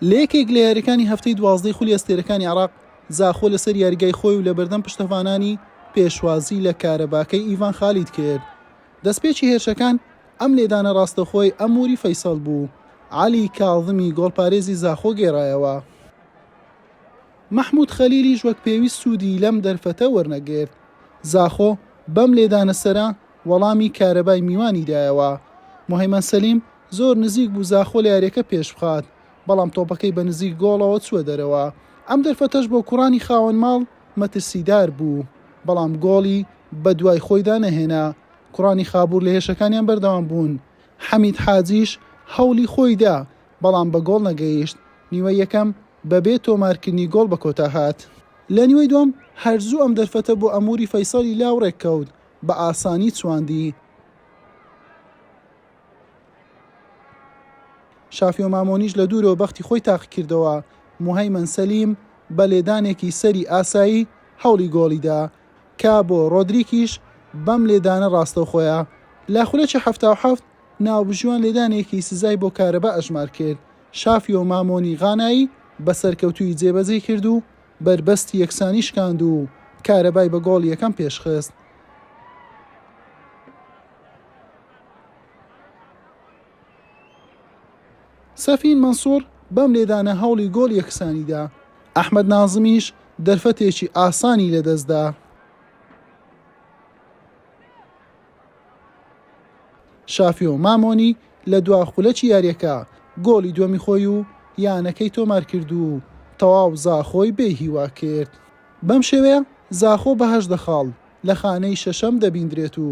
لە یەکێک لە یاریەکانی هەفتەی دوازدەی خولی ئەستێرەکانی عراق زاخۆ لەسەر یاریگای خۆی و لە بەردەم پشتەڤانانی پێشوازی لە کارەباکەی ئیڤان خالید کرد دەستپێکی هێرشەکان ئەم لێدانە ڕاستەخۆی ئەموری فەیسەڵ بوو علی کاڵمی گۆڵپارێزی زاخۆ گێڕایەوە مححمود خەلیلیش وەک پێویست سوودی لەم دەرفەتە وەرنەگرت زاخۆ بەم لێدانە سەرە وەڵامی کارەبای میوانی دایەوە مهمەن سەلیم زۆر نزیک بوو زاخۆ لە یارییەکە پێشبخات، بەڵام تۆپەکەی بە نزیک گۆڵەوە چووە دەرەوە، ئەم دەرفەتەش بۆ کوڕانی خاوەن ماڵ مەترسیدار بوو، بەڵام گۆڵی بەدوای خۆیدا نەهێنا، کوڕانی خابوور لە هێرشەکانیان بەردەوام بوون، حەمید حاجیش هەوڵی خۆی دا، بەڵام بە گۆڵ نەگەیشت، نیوەی یەکەم بەبێ تۆمارکردنی گۆڵ بە کۆتا هات. لە نیوەی دووەم هەر زوو ئەم دەرفەتە بۆ ئەموری فەیسەڵی لاوڕێک کەوت، بە ئاسانی چواندی. شافیۆ مامۆنیش لە دوورەوە بەختی خۆی تاقیکردەوە، موهەیمەن سەلیم بە لێدانێکی سەری ئاسایی هەوڵی گۆڵی دا، کابۆ ڕۆدریکیش بەم لێدانە ڕاستەوخۆیە لە خولەکی حەفتا و حەفت ناوبژیوان لێدانێکی سزای بۆ کارەبا ئەژمار کرد، شافیۆ مامۆنی غانایی بە سەرکەوتوویی جێبەجێی کرد و بەربەستی یەکسانی شکاند و کارەبای بە گۆڵی یەکەم پێشخست. سەفین مەنسوور بەم لێدانە هەوڵی گۆڵ یەکسانی دا، ئەحمەد نازمیش دەرفەتێکی ئاسانی لەدەست دا. شافیۆ مامۆنی لە دوا خولەکی یارییەکە گۆڵی دووەمی خۆی و یانەکەی تۆمارکرد و تەواو زاخۆی بێهیوا کرد. بەم شێوەیە زاخۆ بە هەژدە خاڵ لە خانەی شەشەم دەبیندرێت و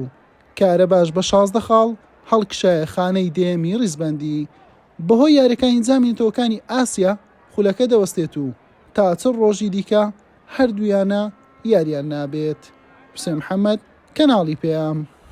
کارەباش بە شازدە خاڵ هەڵکشایە خانەی دەیەمی ریزبەندی، بەهۆی یاریەکانی جامی نەتەوەکانی ئاسیا خولەکە دەوەستێت و تا چل رۆژی دیکە هەردوویانە یاریان نابێت. حوسێن محەمەد، کەناڵی پەیام.